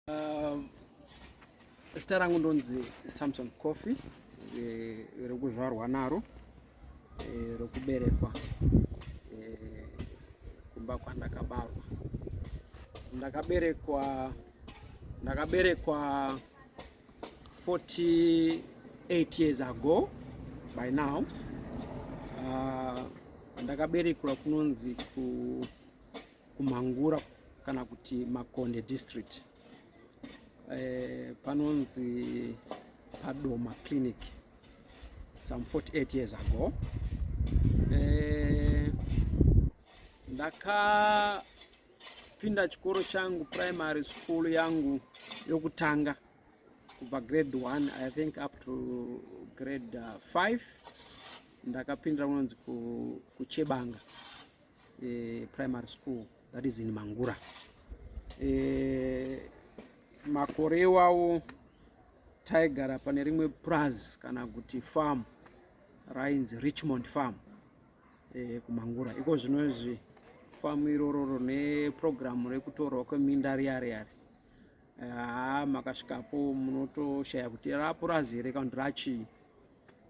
Um, zita rangu ndonzi Samson Coffee eh, rekuzvarwa naro eh, rokuberekwa eh, kumba kwandakabarwa ndakaberekwa ndakaberekwa 48 years ago by now uh, ndakaberekwa kunonzi ku kumhangura kana kuti makonde district e, panonzi padoma clinic some 48 years ago e, ndakapinda chikoro changu primary school yangu yokutanga kubva grade 1 i think up to grade 5 uh, ndakapindira kunonzi kuchebanga eh, primary school that is in mangura eh, makore iwawo taigara pane rimwe praz kana kuti farm rainzi richmond farm eh, kumangura iko zvino izvi famu iroro rine purogiramu rekutorwa kweminda riya riya ri haa makasvikapo munotoshaya kuti rapurazi here kana kuti rachii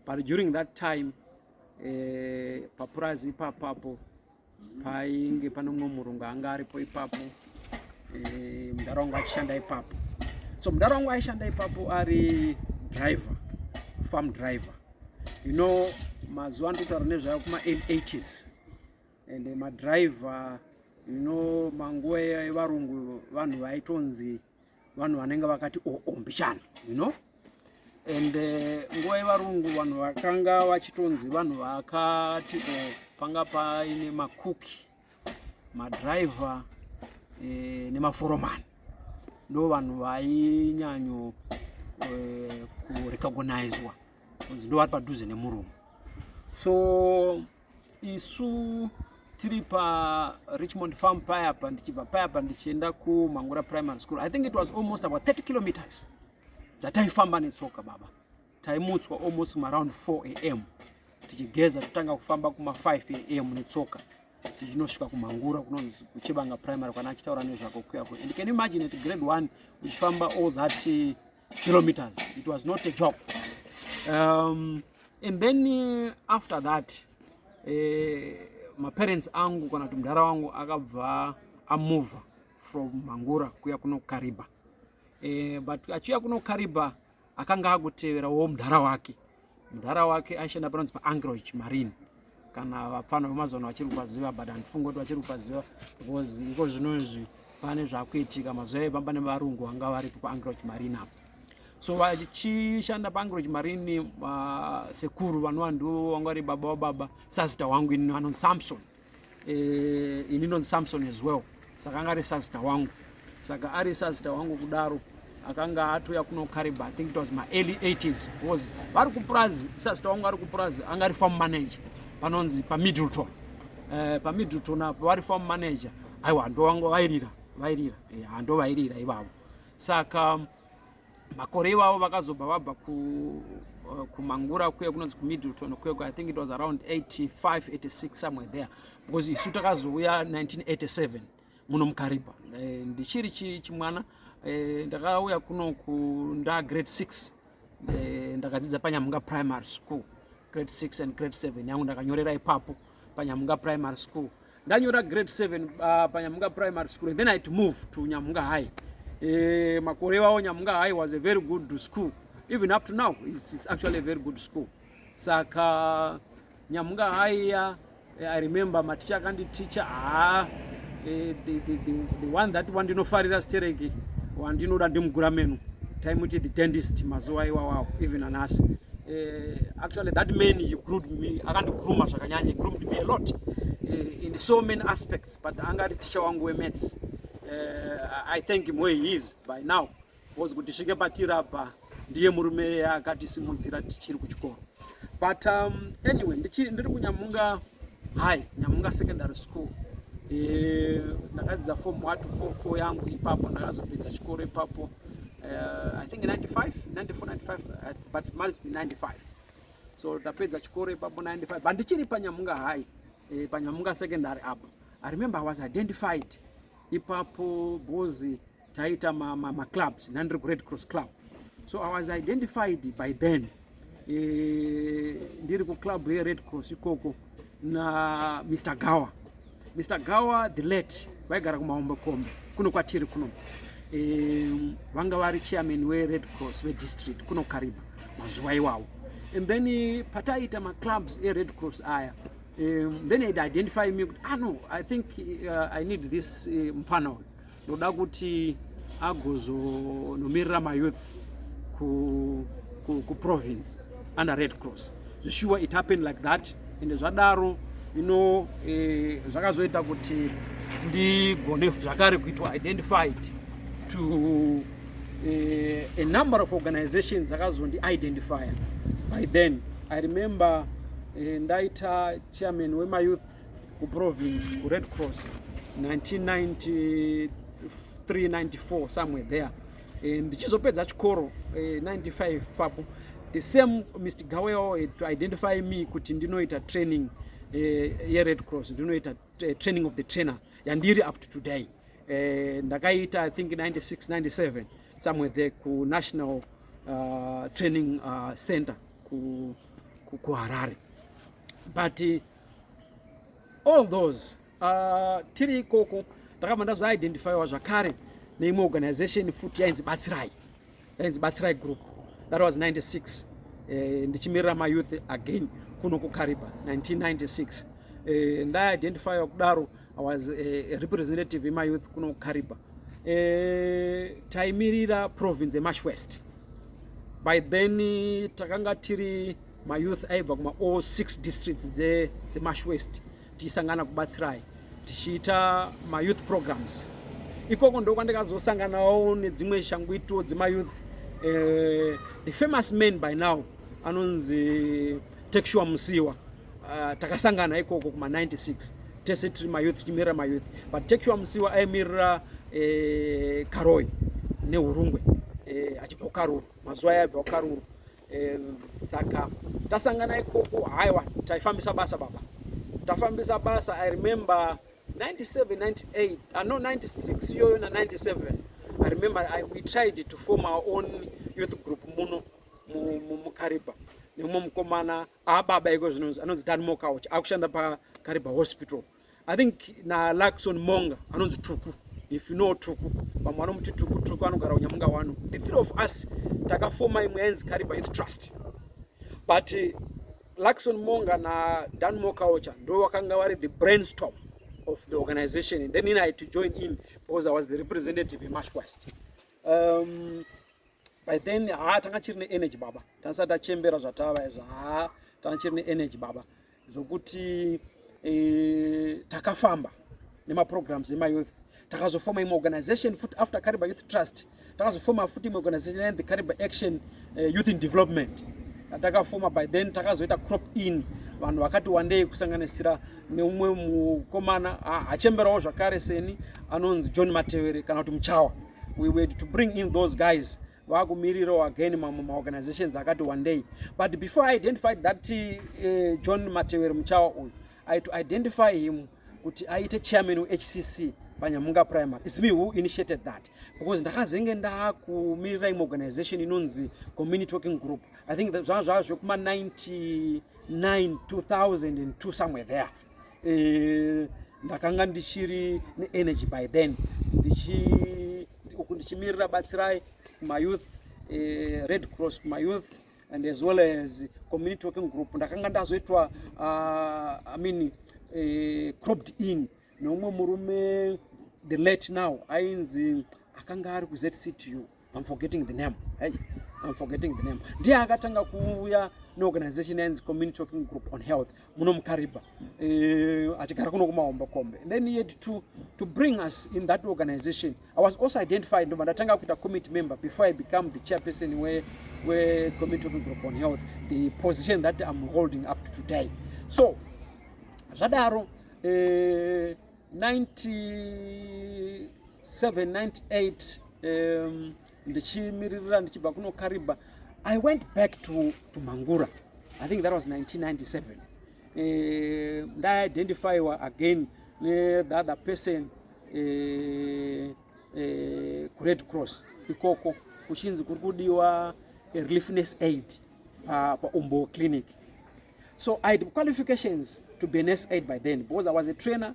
but during that time eh, papurazi ipapapo painge pane mumwe murungu anga aripo ipapo eh, mudhara wangu achishanda ipapo so mudhara wangu aishanda ipapo ari driver farm driver you know mazuva ndikutaura nezvayo kuma 80s and madriver you know manguva evarungu vanhu vaitonzi vanhu vanenge vakati oo oh, oh, mbichana you know and eh, nguva yevarungu vanhu vakanga vachitonzi vanhu vakati o oh, panga paine makuki madriver e, eh, nemaforomani ndo vanhu vainyanyo e, eh, kurecognizwa kunzi ndo vari padhuze nemurume so isu tiri pa richmond farm payapa ndichibva payapa ndichienda kumangura primary school i think it was almost about 30 kilometers dzataifamba netsoka baba taimutswa almost maround 4 am tichigeza totanga kufamba kuma 5 am netsoka tichinosvika kumangura kunonzi kuchebanga primary kwana achitaura nezvako kuyako and can imagine at grade 1 uchifamba all that uh, kilometers it was not a job um, and then uh, after that eh, maparents angu kana kuti mudhara wangu akabva amove from mangura kuya kunokariba eh, but achiuya kunokariba akanga akuteverawo mudhara wake mudhara wake aishanda panonzi paangroch marine kana vapfana vemazano vachiri kupaziva but handifungi kuti vachiri kupaziva because iko zvino izvi pane zvakuitika mazuva iye pamba nevarungu vanga varipo paangroch marine apo so vachishanda paangroch marine uh, sekuru vanova ndivo vanga vari baba wababa sazita wangu ini anonzi samson eh, ini ndonzi samson as well saka anga ari sazita wangu saka ari sazita wangu kudaro akanga atouya kuno kariba i think it was maearly 80s because vari kupurazi sazita wangu ari kupurazi anga ari farm manager panonzi pamiddleton eh, pamiddleton apo vari farm manager aiwa ndovanga vairira vairira eh, handovairira ivavo saka makore ivavo vakazobva vabva ku uh, kumangura kuye kunonzi kumiddleton kuye i think it was around 85 86 somewhere there because isu takazouya 1987 muno mukaripa eh, ndichiri chimwana eh, ndakauya kuno ku nda grade 6 eh, ndakadzidza panyamunga primary school grade 6 and grade 7 yangu ndakanyorera ipapo panyamunga primary school ndanyora grade 7 uh, panyamunga primary school and then i to move to nyamunga high e, makore iwawo nyamunga high was a very good school even up to now it's, it's actually a very good school saka nyamunga high ya eh, i remember maticha akanditicha haa ah, e, the, the, the, the one that wandinofarira stereki wandinoda ndimugura menu taimuti the dentist mazuva iwawawo even anasi e, Actually that man he groomed me akandigrooma zvakanyanya he groomed me a lot eh, in so many aspects but anga ari teacher wangu wemaths uh, I thank him where he is by now because kuti svike patirabha ndiye murume akatisimudzira tichiri kuchikoro but um, anyway ndiri kunyamunga high nyamunga secondary school eh, ndakadzidza form 1 to 4 4 yangu ipapo ndakazopedza chikoro ipapo uh, i think 95 94 95 but must be 95 so tapedza chikoro ipapo 95 but ndichiri panyamunga high eh, panyamunga secondary apo i remember i was identified ipapo bozi taita maclubs ma, ma nandiri kured cross club so i was identified by then eh, ndiri kuclub yered cross ikoko na Mr Gawa Mr Gawa the late vaigara kumahombe kombe kuno kwatiri kuno e, vanga vari chairman we Red Cross ve district kuno Kariba mazuva iwawo and then eh, pataiita ma clubs e Red Cross aya um, then it identify me ah no i think uh, i need this uh, mfana uyu ndoda kuti agozonomirira mayouth kuprovince under red cross zveshuwa it happened like that ende zvadaro ino eh, zvakazoita kuti ndigone zvakare kuitwa identified to eh, a number of organizations dzakazondi identify by then i remember eh, ndaita chairman wemayouth kuprovince kured cross 1993-94 somewhere there eh, ndichizopedza chikoro 95 eh, papo the same mr gaweo eh, to identify me kuti ndinoita training yered cross ndinoita training of the trainer yandiri up to today ndakaita i think 96 97 somewhere there kunational uh, training uh, center kuharare ku, ku but all those uh, tiri ikoko ndakabva ndazoidentifyiwa zvakare neimwe organization futi yainzi batsirai yainzi batsirai group that was 96 eh, ndichimirira mayouth again kuno kukariba 1996 eh, ndaidentifyiwa kudaro i was eh, a representative yemayouth kuno kukariba eh, taimirira province yemash west by then takanga tiri mayouth aibva kuma all six districts dzemash west tichisangana kubatsirai tichiita mayouth programs ikoko ndo kwandikazosanganawo nedzimwe shangwito dzemayouth eh, the famous man by now anonzi texua musiwa uh, takasangana ikoko kuma 96 tese tiri mayouth tichimirira mayouth but texua musiwa aimirira eh, karoi neurungwe eh, achibva kukaruru mazuva ayo aibva kukaruru e, saka tasangana ikoko haiwa taifambisa basa baba tafambisa basa i remember 97 98 uh, no 96 iyoyo na 97 i remember I, we tried to form our own youth group muno mukariba nemumwe mukomana ababa ah, iko zvinonzi anonzi dan mokauch akushanda pakariba hospital I think na Luckson Monga anonzi Tuku if you know Tuku vamwe vanomuti Tuku Tuku anogara kunyamunga wano the three of us takafoma imwe yainzi Kariba Youth Trust but eh, Luckson Monga na Dan Mokaocha ndo wakanga vari the brainstorm of the organization and then in I had to join in because I was the representative in Mash West um, by then ha tanga chiri ne energy baba tansati tachembera zvatava izvo ha tanga chiri ne energy baba zvokuti e, takafamba nemaprograms emayouth takazofoma imwe organization futi after kariba youth trust takazofoma futi imwe organization and the kariba action uh, youth in development takafoma by then takazoita crop in vanhu vakati wandei kusanganisira neumwe mukomana hachemberawo zvakare seni anonzi john matevere kana kuti muchawa we were to bring in those guys vakumirirawo again mamwe maorganizations akati one day but before i identified that uh, john matewero muchawa uyu i to identify him kuti aite chairman wehcc panyamunga primary its me who initiated that because ndakazenge ndakumirira imwe organization inonzi community working group i think zvanga zvava zvekuma 99 2002 somewhere there uh, ndakanga ndichiri neenergy by then ndichi uku ndichimirira batsirai kumayouth eh, red cross kumayouth and as well as community working group ndakanga ndazoitwa uh, i mean eh, cropped in neumwe murume the late now ainzi akanga ari kuzctu i'm forgetting the name hey, i'm forgetting the name ndiye akatanga kuuya neorganization yainzi community working group on health muno mukaribha eh, achigara kuno kumahombo kombe and then he had to, to bring us in that organization i was also identified ndobva ndatanga kuita committee member before i become the chairperson we, we committee of group on health the position that i'm holding up to today so zvadaro eh, 97 98 um, ndichimiririra ndichibva kuno kariba i went back to, to mangura i think that was 1997 eh, ndaiidentifyiwa again nethe other person eh, eh, kured cross ikoko kuchinzi kuri kudiwa eh, reliefness aid paumbo pa clinic so i had qualifications to be an s aid by then because i was a trainer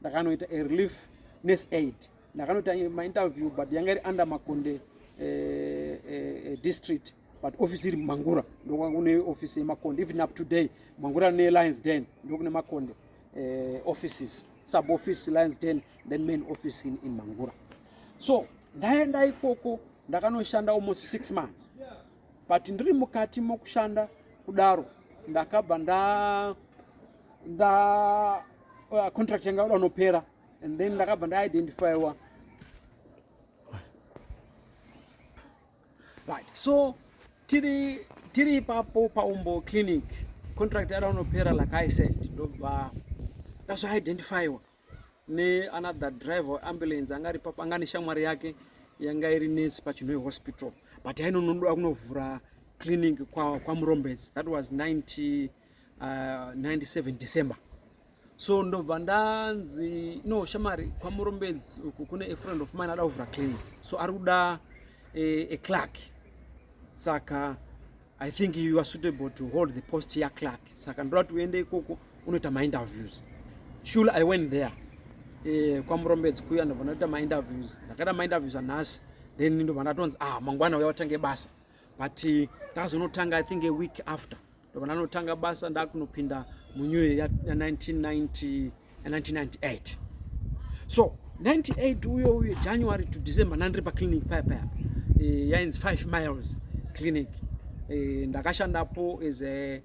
ndakanoita a relief nurse aid ndakanoita mainterview but yanga iri under makonde eh, eh, eh, district but office iri mangura ndokune office yemakonde even up today mangura ne lions den ndokune makonde eh, offices sub office lions den then main office in, in mangura so ndaenda ikoko ndakanoshanda almost six months but ndiri mukati mokushanda kudaro ndakabva nda nda uh, contract yanga yoda unopera and then ndakabva ndaidentifyiwa right so tiri tiri ipapo paumbo clinic contract yada unopera like i said ndobva ndazvoidentifyiwa neanother driver weambulance anga ari papo anga neshamwari yake yanga iri nurse pachinhoe hospital but yainonoda kunovhura clinic kwamurombedzi kwa that was 90, uh, 97 december so ndobva ndanzi no shamari kwamurombedzi uku kune a friend of mine ada kuvhura clinic so ari kuda eh, a clerk saka I think you are suitable to hold the post ya clerk saka ndoda kuti uende ikoko unoita mainterviews shul i went there eh, kwamurombedzi kuya ndobva ndaita mainterviews ndakaita mainterviews anhasi then ndobva ndatonzi ah mangwana uya watange basa but eh, ndakazonotanga i think a week after ndobva ndanotanga basa ndakunopinda munew year ya 1990 1998 so 98 uyo uyo january to december ndandiri paclinic paya paya eh, yainzi 5 miles clinic eh, ndakashandapo as a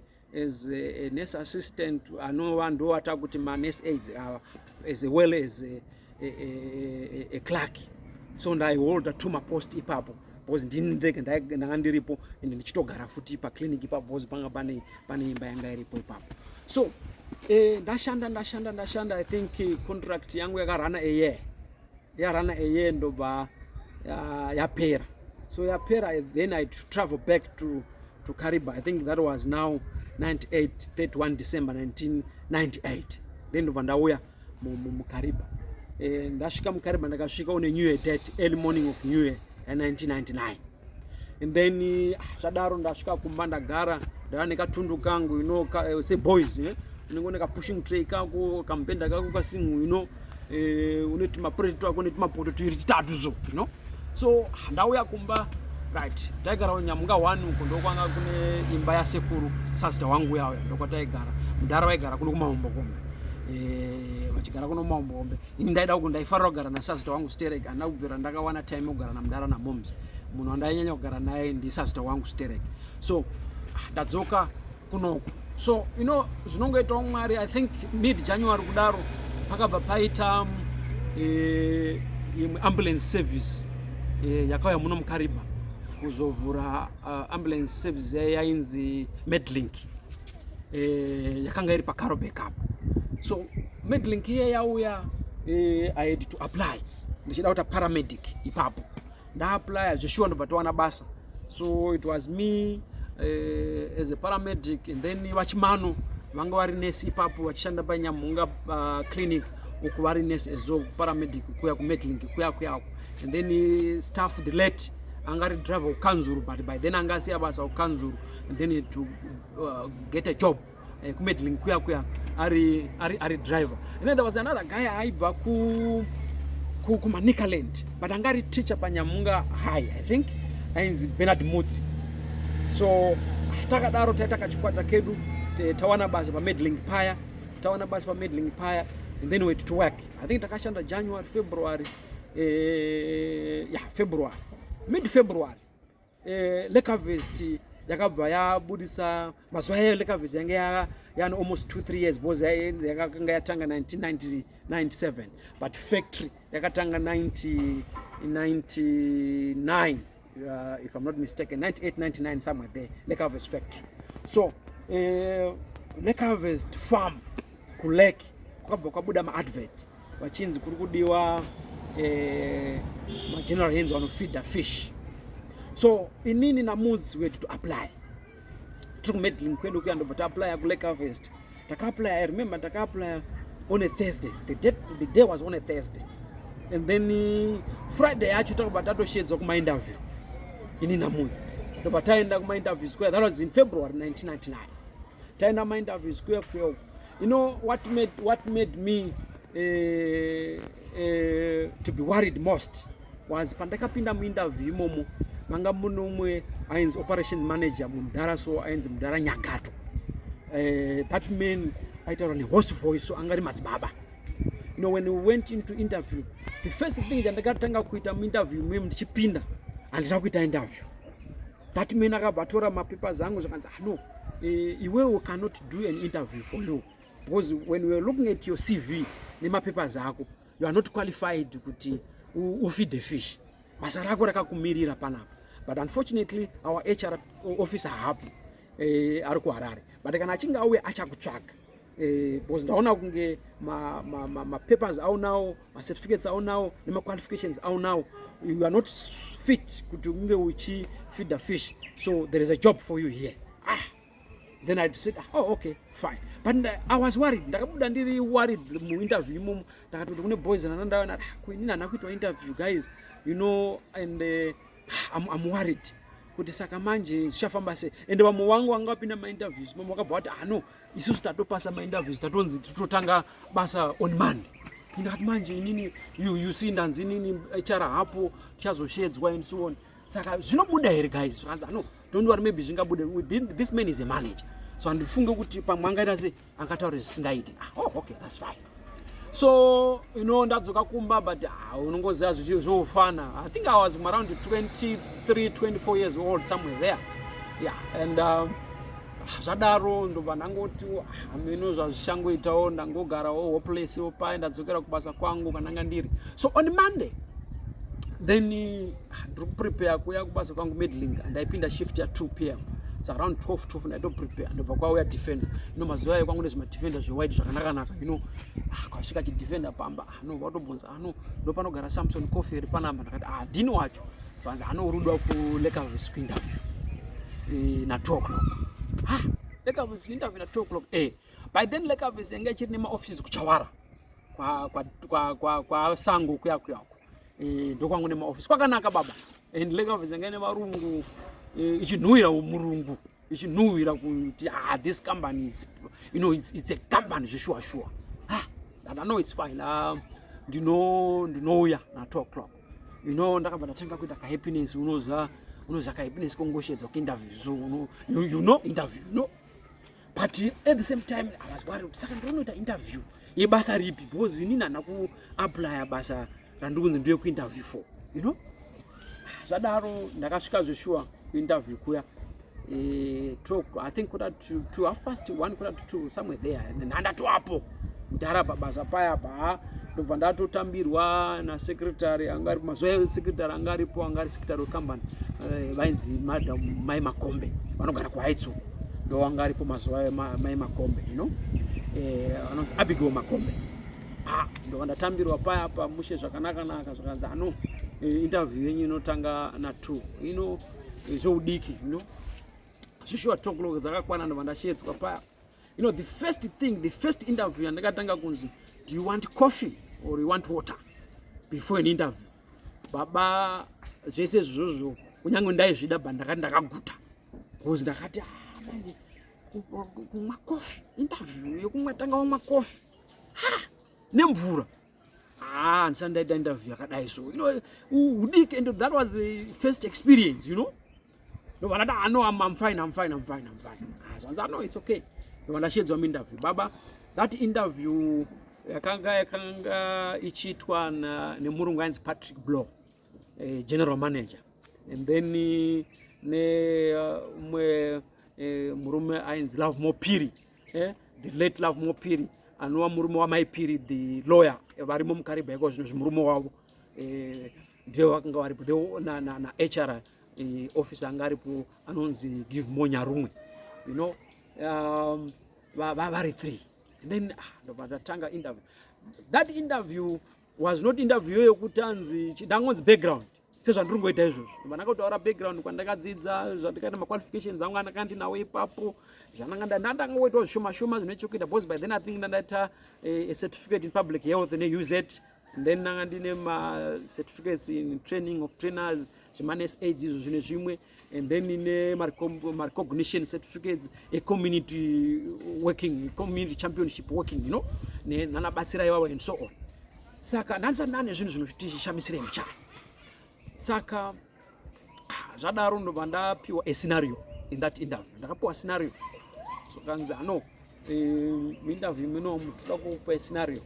as a nurse assistant anova ndowata kuti manurse aids ava as well as a, a, a, a clerk so ndaiholda two mapost ipapo bhozi ndini ndega ndanga ndiripo and ndichitogara futi paclinic pabhozi panga pane pane imba yanga iripo ipapo so eh, ndashanda ndashanda ndashanda i think eh, contract yangu yakarana eye yarana eye ndobva yapera so yapera then i travel back to, to cariba i think that was now 98 31 december 1998 then ndobva ndauya mukariba eh, ndasvika mukariba ndakasvika on a new year date early morning of new year ya 1999 and then eh, ah, zvadaro ndasvika kumba ndagara ndava nekatundu kangu you know ka, eh, say boys eh? unenge une kapushing tray kako kamupenda kako kasingu you know eh, une tumapreti twako une tumapoto tuiri titatu so you know so ah, ndauya kumba right taigara nyamuka one uko ndokwanga kune imba yasekuru sasita wangu uya uya ndokwataigara mudhara waigara kuno kumaombokombe Eh, vachigara kuno mambombe ini ndaida kuti ndaifanira kugara nasazita wangu sterek andina kubvira ndakawana time yokugara namudara namoms munhu wandainyanya kugara naye ndisazita wangu sterek so ah, ndadzoka kunoku so you know zvinongoitawo mwari i think mid january kudaro pakabva paita um, eh, imwe ambulance service eh, yakauya muno mukariba kuzovhura uh, ambulance service yainzi medlink eh, yakanga iri pacaro backup so medlink iye yauya eh, i had to apply ndichida kuita paramedic ipapo ndaapply zveshuwa ndobva towana basa so it was me eh, as a paramedic and then vachimano vanga vari nesi ipapo vachishanda panyamhunga uh, clinic uku vari nesi ezo paramedic kuya kumedlink kuya kuyako and then eh, staff the late anga ari driver kukanzuru but by then anga asiya basa kukanzuru and then to uh, get a job uh, eh, kumedling kuya kuya ari, ari, ari driver and then there was another guy aibva ku kumanicaland but anga ari teacher panyamunga high i think ainzi benard mutsi so takadaro taita kachikwata kedu tawana basa pamedling paya tawana basa pamedling paya and then went to work i think takashanda january february eh, yeah, february mid february eh, lecavest yakabva yabudisa mazuva yayo lecavest yange yani almost two three years because yakanga yatanga 1997 but factory yakatanga 1999 uh, if i'm not mistaken 98 99 somewhere there lecavest factory so uh, eh, lecavest farm kulake kwakabva kwabuda maadvert vachinzi kuri kudiwa eh, mageneral hands vanofeeder fish so inini namudzi wedu to apply tiri kumedlin kwedu kuya ndobva taaplya kulake harvest takaaplya i remember takaaplya on a thursday the day, the day was on a thursday and then eh, friday yacho takabva tatoshedzwa kumainterview ini namudzi ndobva taenda kumainterview square that was in february 1999 taenda kumainterview square kuya uku You know what made, what made me uh, uh, to be worried most was pandakapinda muinterview imomo manga mune umwe ainzi operations manager mudhara so ainzi mudhara nyagato uh, that man aitaura nehorse voice so anga ari madzibaba you know when we went into interview the first thing chandakatanga kuita muinterview memu ndichipinda handina kuita interview that man akabva atora mapapers angu zvakanzi ah, no eh, iwewe uh, cannot do an interview for you because when weare looking at your cv nemapapers ako you are not qualified kuti ufeed the fish basa rako rakakumirira panapa but unfortunately our hr officer hapo eh, ari kuharare but kana achinge auya achakutsvaga eh, because ndaona kunge mapapers ma, ma, ma aunawo macertificates aunawo nemaqualifications aunawo you are not fit kuti unge uchifeeder fish so there is a job for you here ah then i said oh okay fine but i was worried ndakabuda ndiri worried muinterview imomo ndakatoti kune boys nanandaona ah, kuinini hana kuitwa interview guys you know and uh, I'm, i'm worried kuti saka manje zvichafamba sei ende vamwe wangu vanga vapinda mainterviews mamwe vakabva vati hano ah, isusu tatopasa mainterviews tatonzi tototanga basa on monday ndikati manje inini you, you see ndanzi inini hr hapo tichazoshedzwa and so on saka zvinobuda here guys zvakanzi ano don't worry maybe zvingabude this man is a manager so handifunge kuti pamwe angaita se angataure zvisingaiti ah, oh, okay that's fine so you know ndadzoka kumba but ah, unongoziva zvichio zvoufana i think i was around 23 24 years old somewhere there yeah and um, zvadaro ndobva ndangoti hameno ah, zvazvichangoitawo ndangogarawo hopeless paye ndadzokera kubasa kwangu kwananga ndiri so on monday then ah, ndiri kuprepare kuya kubasa kwangu medling andaipinda shift ya 2 pm it's around 12 12 ndaito prepare ndobva kwauya defender ino mazuva ayo kwangu nezvima defender zvewide zvakanakanaka ino ah, kwasvika chidefender pamba ano ah, vatobvunza ano ndo panogara samson coffee iri panamba ndakati ah dini wacho vanzi ano uri uda kulekavis kuinterview eh, na 2 o'clock ha lekavis kuinterview na 2 o'clock eh by then lekavis yanga ichiri nemaoffices kuchawara kwa kwa kwa kwa, kwa sango kuya kuya uko eh, ndokwangu nemaofisi kwakanaka baba and lake office yanga ine varungu eh, ichinhuhwira murungu ichinhuhwira kuti ah this company is you know it's, it's a company zveshuwa shuwa ah that i know it's fine um ndino ndinouya na 2 o'clock you know ndakabva ndatenga kuita ka happiness unoza unoza ka happiness kongoshedza ku interview so you, you know interview you know but at the same time i was worried saka ndinoita interview yebasa ripi because inini hana kuaplya basa randikunzi ndiye kuinterview for you know zvadaro ndakasvika zveshuwa kuinterview kuya eh, talk i think kuda to, to half past one kuda to two somewhere there and then handatoapo mdhara pabasa paya pa ndobva ndatotambirwa nasecretary anga aripo mazuva ayo secretary anga aripo anga ari secretary wecompany eh, vainzi madam mai makombe vanogara kuhaitsu ndo anga aripo mazuva ayo mai makombe you know eh, anonzi abigail makombe ah, ndobva ndatambirwa paya pa mushe zvakanakanaka zvakanzi ano eh, interview yenyu inotanga na two you know zvoudiki you know zvishuwa two o'clock dzakakwana ndobva ndashedzwa paya You know, the first thing, the first interview yandakatanga kunzi, do you want coffee or you want water before an interview? Baba zvese izvozvo kunyange ndaizvida but ndakati ndakaguta because ndakati ah, manje kumwa coffee interview yekumwa tanga wamwa coffee ha nemvura ah handisandaita interview yakadai so you know udike and that was the first experience you know No, but I know I'm, I'm fine, I'm fine, I'm fine, I'm fine. Ah, so I know it's okay. No, but I shades on interview. Baba, that interview yakanga yakanga ichiitwa na nemurungu ainzi Patrick Blow, eh, general manager. And then eh, ne uh, mwe eh, murume ainzi Love Mopiri, eh, the late Love Mopiri anova murume wamai Piri the lawyer eh, varimo mukariba iko zvino zvimurume wavo eh, ndivo vakanga varipo nahr na, eh, officer anga aripo anonzi give more nyarumwe you know um, vari three and then ah, ndobva ndatanga interview that interview was not interview yokuti anzi ndangonzi background sezvandiri ngoita izvozvo vandakataura background kwandakadzidza zvandikaita maqualifications angu andanga ndinawo ipapo zvananga ndandanga woitawo zvishoma shoma zvine chokuita because by then i think ndandaita eh, a certificate in public health neuz then ndanga ndine macertificates in training of trainers zvemanes aids izvo zvine zvimwe and then ine marecognition certificates ecommunity working community championship working you know nanabatsira ivavo and so on saka ndandisati ndane zvinhu zvinotichishamisirei muchana saka ah, zvadaro ndobva ndapiwa a scenario in that interview ndakapiwa scenario so kanzi ano eh, interview imweniwo mutoda kukupa scenario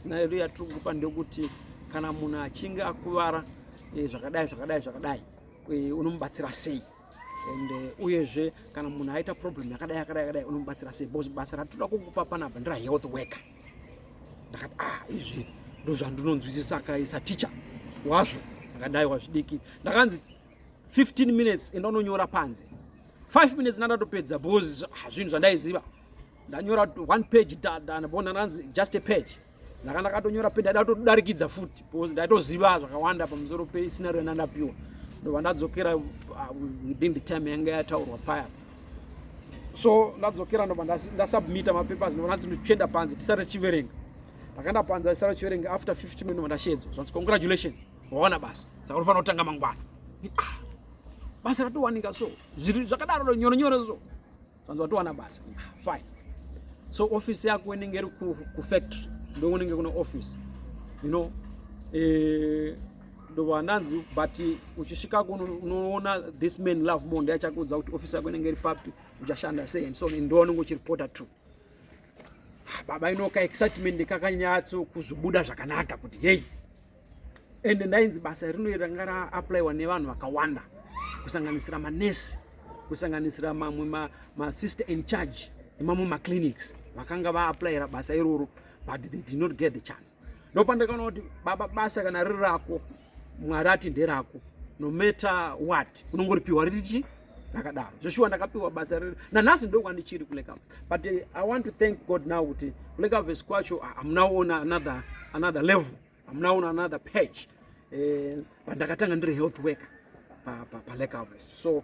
scenario yatiri kukupa ndekuti kana munhu achinge akuvara eh, zvakadai zvakadai zvakadai eh, unomubatsira sei and uyezve kana munhu aita problem yakadai yakadai yakadai unomubatsira sei bcause basa ratitoda kukupa panapa ndira health worker ndakati ah izvi ndozvandinonzwisisa kai saticha wazvo ndakadai wazvidiki ndakanzi 15 minutes enda unonyora panze 5 minutes ndandatopedza because ah, zvinhu zvandaiziva ndanyora one page danabona nanzi just a page ndaka ndakatonyora pe ndaida kutodarikidza futi because ndaitoziva zvakawanda pamusoro pesinero yandandapiwa ndobva ndadzokera uh, within the time yanga yataurwa paya so ndadzokera ndobva ndasubmita mapapers ndobva ndanzi ndichenda panze tisare chiverenga ndakaenda panze aisara chiverenga after 50 minute ndobva ndashedzwa zvanzi congratulations waona basa saka unofanira kutanga mangwana ah, basa ratowanika so zviri zvakadaro nyoro nyoro so zvanzi watowana basa ah, fine so office yako inenge iri kufactory ndokunenge kune office you know eh, ndobva ndanzi but uchisvika kuno unoona this man love more ndiye achakuudza kuti ofisi yako inenge iri papi uchashanda sei and so on ndo unenge uchiripota to ah, baba inoka excitement kakanyatso kuzobuda zvakanaka kuti heyi and ndainzi basa rino ranga raapplywa nevanhu vakawanda kusanganisira manesi kusanganisira mamwe masister ma in charge nemamwe maclinics vakanga vaaplyira basa iroro but they did not get the chance ndopandakaona kuti baba basa kana riri rako mwari ati nderako no matter what unongoripiwa riri chii ndakadaro zveshuwa ndakapiwa basa riri nanhasi ndo kwandichiri kulekava but eh, i want to thank god now kuti kulekaves kwacho ah, am now on another, another level am now on another page eh, but ndakatanga ndiri health worker palekaves so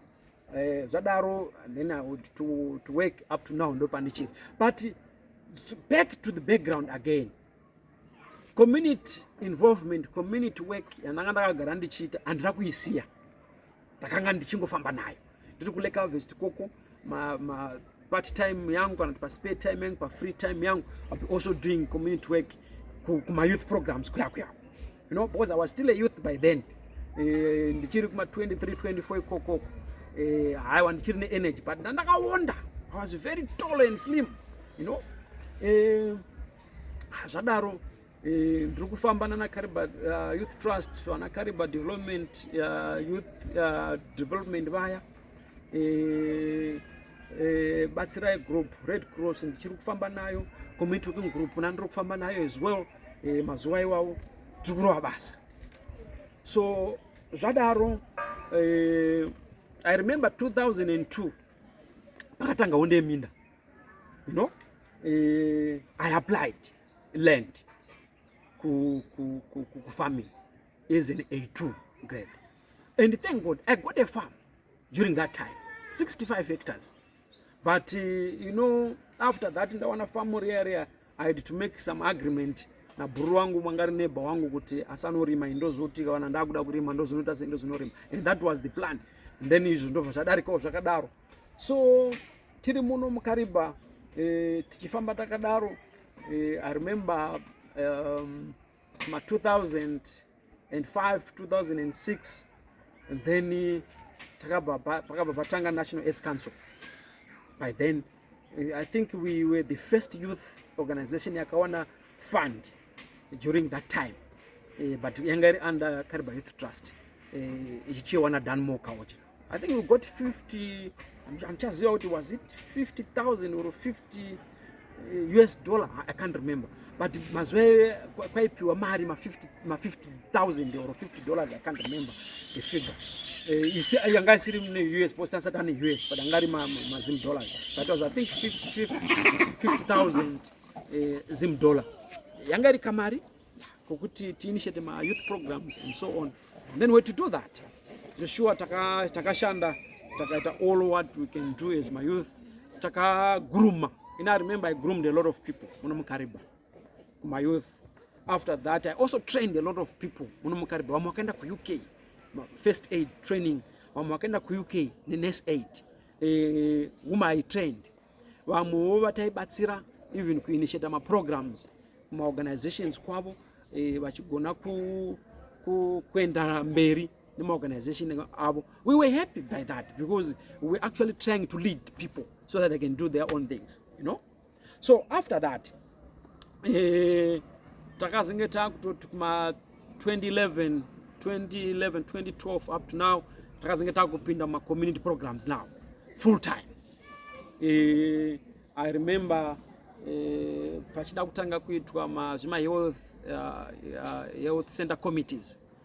eh, zvadaro then I would to, to work up to now ndopandichiri but back to the background again community involvement community work yandanga ndakagara ndichiita handina kuisiya ndakanga ndichingofamba nayo ndiri kuleka vest koko ma, ma part time yangu kana kuti paspare time yangu pafree time yangu ibe also doing community work kumayouth programs kuya kuya you know because i was still a youth by then eh, ndichiri kuma 23 24 ikokoko eh, haiwa ndichiri neenergy but ndandakawonda i was very tall and slim you know eh, zvadaro Eh, ndiri kufamba nana kariba uh, youth trust vana kariba development uh, youth uh, development vaya eh, eh, batsirai group red cross ndichiri kufamba nayo community working group na ndiri kufamba nayo as well eh, mazuva iwawo tiri kurova basa so zvadaro eh, i remember 2002 pakatanga hunde yeminda you know eh, i applied land ku, ku, ku, ku, ku farming is an A2 grade. And thank God, I got a farm during that time, 65 hectares. But, uh, you know, after that, in the one farm area, I had to make some agreement na buru wangu mwangari neba wangu kuti asanorima indozoti kana ndakuda kurima ndozonoita sei ndozonorima and that was the plan and then izvo ndobva zvadarikawo zvakadaro so tiri muno mukariba eh, tichifamba takadaro eh, i remember um, ma 2005 2006 and then takabva pakabva patanga national aids council by then eh, i think we were the first youth organization yakawana fund during that time eh, but yanga iri under kariba youth trust eh, ichichiwana danmore kaocha I think we got 50 handichaziva kuti was it 50000 or 50 us eh, dollar i can't remember but mazuva iwe kwaipiwa mari ma50000 or 50 dollars i can't remember the figure eh, yanga isiri mune us post asati ane us but anga ari mazim dollars that was i think 50000 eh, zim dollar yanga iri kamari kokuti tiinitiate ma youth programs and so on and then we to do that zveshuwa takashanda taka takaita all what we can do as my youth takaguruma and i remember i groomed a lot of people muno mukariba my youth after that i also trained a lot of people muno mukariba vamwe vakaenda kuuk first aid training vamwe vakaenda kuuk nenurse aid uh, whom i trained vamwewo vataibatsira even kuinitiata maprograms mumaorganizations kwavo e, vachigona ku, ku, kuenda mberi nemaorganization avo we were happy by that because we're actually trying to lead people so that they can do their own things you know so after that eh, takazenge takutoti kuma 2011 2011 2012 up to now takazenge takupinda muma community programs now full time eh, i remember eh, pachida kutanga kuitwa ma, zvima health, uh, uh, health center committees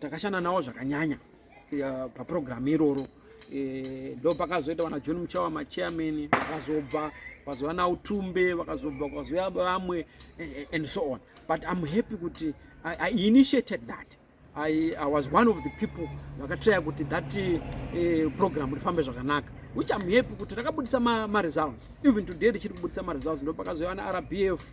takashanda nawo zvakanyanya eh, paprogramu iroro eh, ndo pakazoita vana john muchawa machairman vakazobva vakazouya nautumbe vakazobva kwakazouya vamwe eh, and so on but im happy kuti I, i initiated that I, i was one of the people vakatraya kuti that uh, program rifambe zvakanaka which im happy kuti rakabudisa maresults ma even today richiri kubudisa maresults ndo pakazouya ana rbf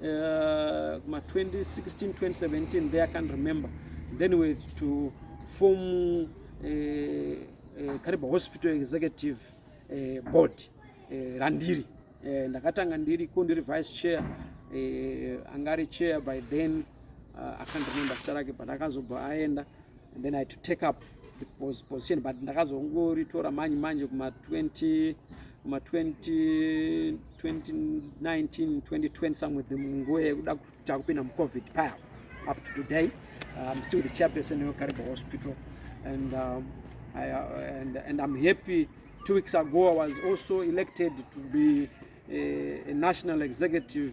uh, kuma 2016 2017 there i can't remember then we had to form uh, uh, kariba hospital executive uh, board uh, randiri uh, ndakatanga ndiri ko ndiri vice chair uh, angari chair by then uh, i can't remember zita rake but akazobva aenda and then i had to take up the position but ndakazongoritora manje manje kuma 20 kuma 2019 2020 somewhere the nguva yekuda kuta kupinda mucovid paya up to today i'm um, still the chairperson wekariba hospital and, um, I, uh, and, and i'm happy two weeks ago i was also elected to be a, a national executive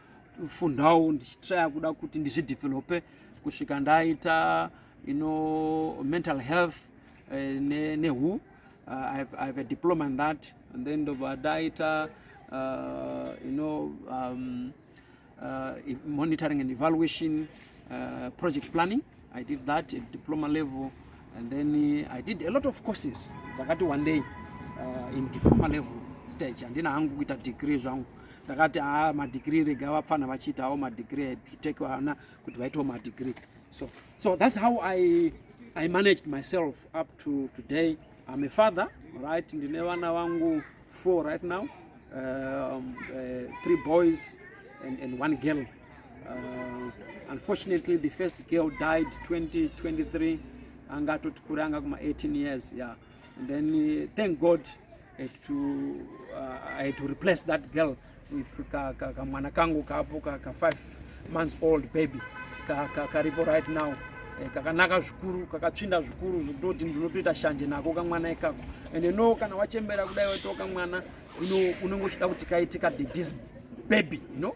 fundawo ndichitraya kuda kuti ndizvidevelope kusvika ndaita you know, mental health uh, eh, ne, ne who uh, I, have, I have a diploma in that and then ndobva ndaita uh, you know, um, uh, monitoring and evaluation uh, project planning I did that at diploma level and then eh, I did a lot of courses dzakati wandei uh, in diploma level stage handina hangu kuita degree zvangu ndakati haa ah, madegree rega vapfana vachiitawo madegree to take vana kuti vaitewo madegree so so that's how i i managed myself up to today i'm a father right ndine vana vangu four right now um, uh, three boys and, and one girl Uh, unfortunately the first girl died 2023 anga atotikura anga kuma 18 years yeah and then uh, thank god had to, uh, i had to replace that girl with kamwana ka, ka kangu kapo ka, ka five months old baby karipo ka, ka right now eh, kakanaka zvikuru kakatsvinda zvikuru zvekutoti ndinotoita shanje nako kamwana ikako and no kana wachembera kudai waitoka mwana unenge uchida kuti kaite kadedism baby you know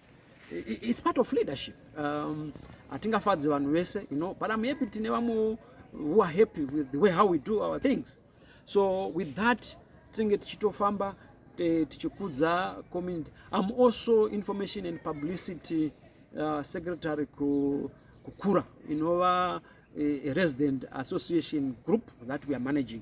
it's part of leadership um, hatingafadzi vanhu vese you know but i'm happy tine vamwe who are happy with the way how we do our things so with that tinenge tichitofamba tichikudza community i'm also information and publicity uh, secretary kukura inova a resident association group that we are managing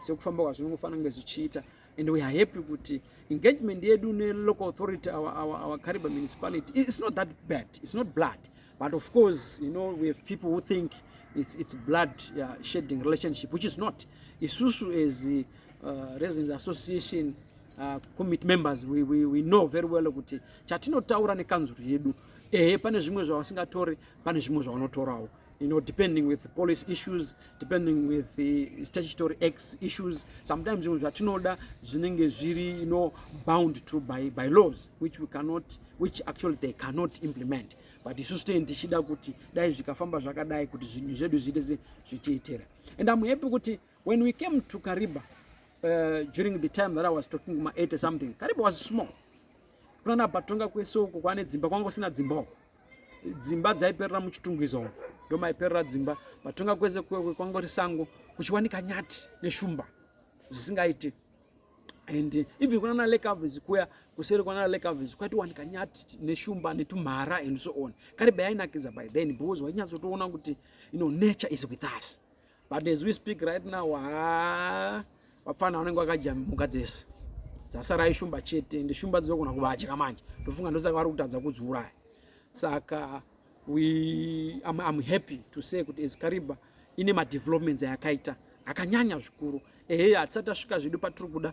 sekufamba kwazvo zvinongofanira kunge zvichiita and we are happy kuti engagement yedu nelocal authority our, our, our cariba municipality it's not that bad it's not blood but of course you know we have people who think it's, it's blood uh, shedding relationship which is not isusu as the uh, residents association uh, commit members we, we, we know very well kuti chatinotaura nekanzuru yedu ehe pane zvimwe zvavasingatori pane zvimwe zvavanotorawo you know, depending with police issues, depending with the statutory acts issues, sometimes you know, that you know, bound to by, by laws, which we cannot, which actually they cannot implement. But you sustain the shida kuti, dai zvikafamba zvakadai kuti zvinhu zvedu zviite zvichiitira. And I'm happy kuti when we came to Kariba, uh, during the time that I was talking to my 80 something, Kariba was small. Kuna na batonga kweso kukwane dzimba kwangu sina dzimba. dzimba dzaiperera muchitungwiza umu ndomaiperera dzimba matonga kwese kwangori sango kuchiwanika nyati neshumba zvisingaiti and even kunana lake avis kuya kuseri kwanana lake avis kwatiwanika nyati neshumba netumhara and so on karibe yainakidza by then because wainyatsotoona kuti you know nature is with us but as we speak right now haa vapfana vanenge vakadya mhuka dzese dzasara ishumba chete ende shumba dzinogona kuvadya manje ndofunga ndosaka vari kutadza kudziuraya saka we am, am happy to say kuti ezcariba ine madevelopments ayakaita akanyanya zvikuru ehe hatisati tasvika zvedu patiri kuda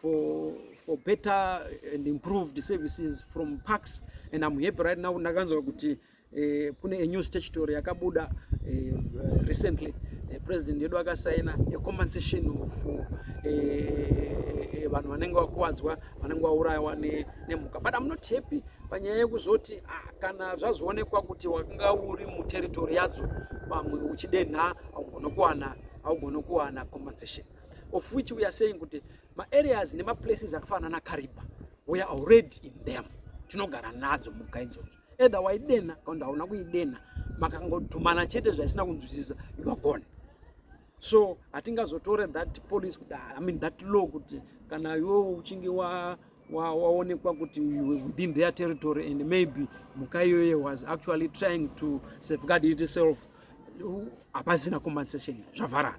for for better and improved services from parks and I'm happy right now ndakanzwa kuti eh, kune a new statutory yakabuda eh, recently eh, president yedu akasaina a compensation of eh, vanhu vanenge vakuwadzwa vanenge vaurayiwa nemhuka but I'm not happy panyaya yekuzoti ah, kana zvazoonekwa kuti wakanga uri muterritori yadzo pamwe uchidenha haugone kuwana haugone kuwana compensation of which we are saying kuti maareas nemaplaces akafanana nakariba we are already in them tinogara nadzo muka idzodzo either waidenha kakundi hauna kuidenha makangodhumana chete zvaisina kunzwisisa you are gone so hatingazotore that police kuti ah, i mean that law kuti kana iwewo uchinge wa waonekwa kuti within their territory and maybe muka iyoye was actually trying to safeguard itself hapasina compensation zvavharana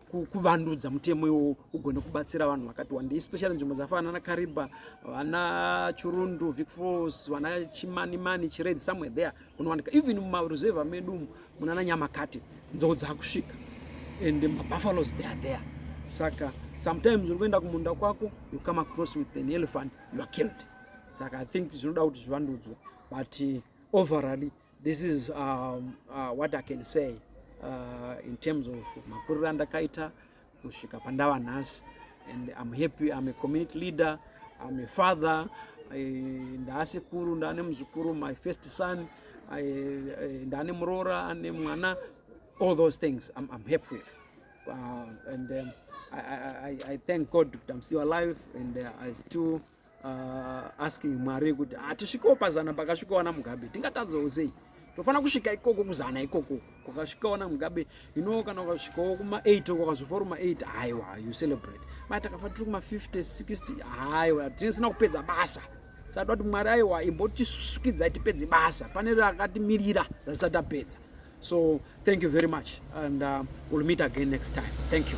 kuvandudza mutemo iwowo ugone kubatsira vanhu vakati wandei especially nzvimbo dzafana ana kariba vana churundu vicfos vana chimanimani chired somewhere there kunowanika even mumaruzevha medu umu munana nyamakate nzou dzakusvika and mabuffaloes they are there saka sometimes uri kuenda kumunda kwako you come across with an elephant you are killed saka i think zvinoda kuti zvivandudzwe but uh, overally This is um, uh, what I can say uh, in terms of makuriro andakaita kusvika pandava nhasi and I'm happy I'm a community leader I'm a father ndaasekuru ndaane muzukuru my first son ndaane muroora ane mwana all those things I'm, I'm happy with uh, and um, I, I, I thank God kuti I'm still alive and uh, I still uh, asking mwari kuti hatisvikewo ah, pazana pakasvikawo ana mugabe tingatadzawo sei tofanira kusvika ikoko kuzana ikoko kwakasvikawo na mugabe ino kana ukasvikawo kuma 8 kwakazofora kuma 8 haiwa you celebrate mai takafa tiri kuma 50 60 haiwa tinisina kupedza basa sada kuti mwari aiwa imbotisukidza tipedze basa pane rakatimirira ratisati tapedza so thank you very much and uh, we'll meet again next time thank you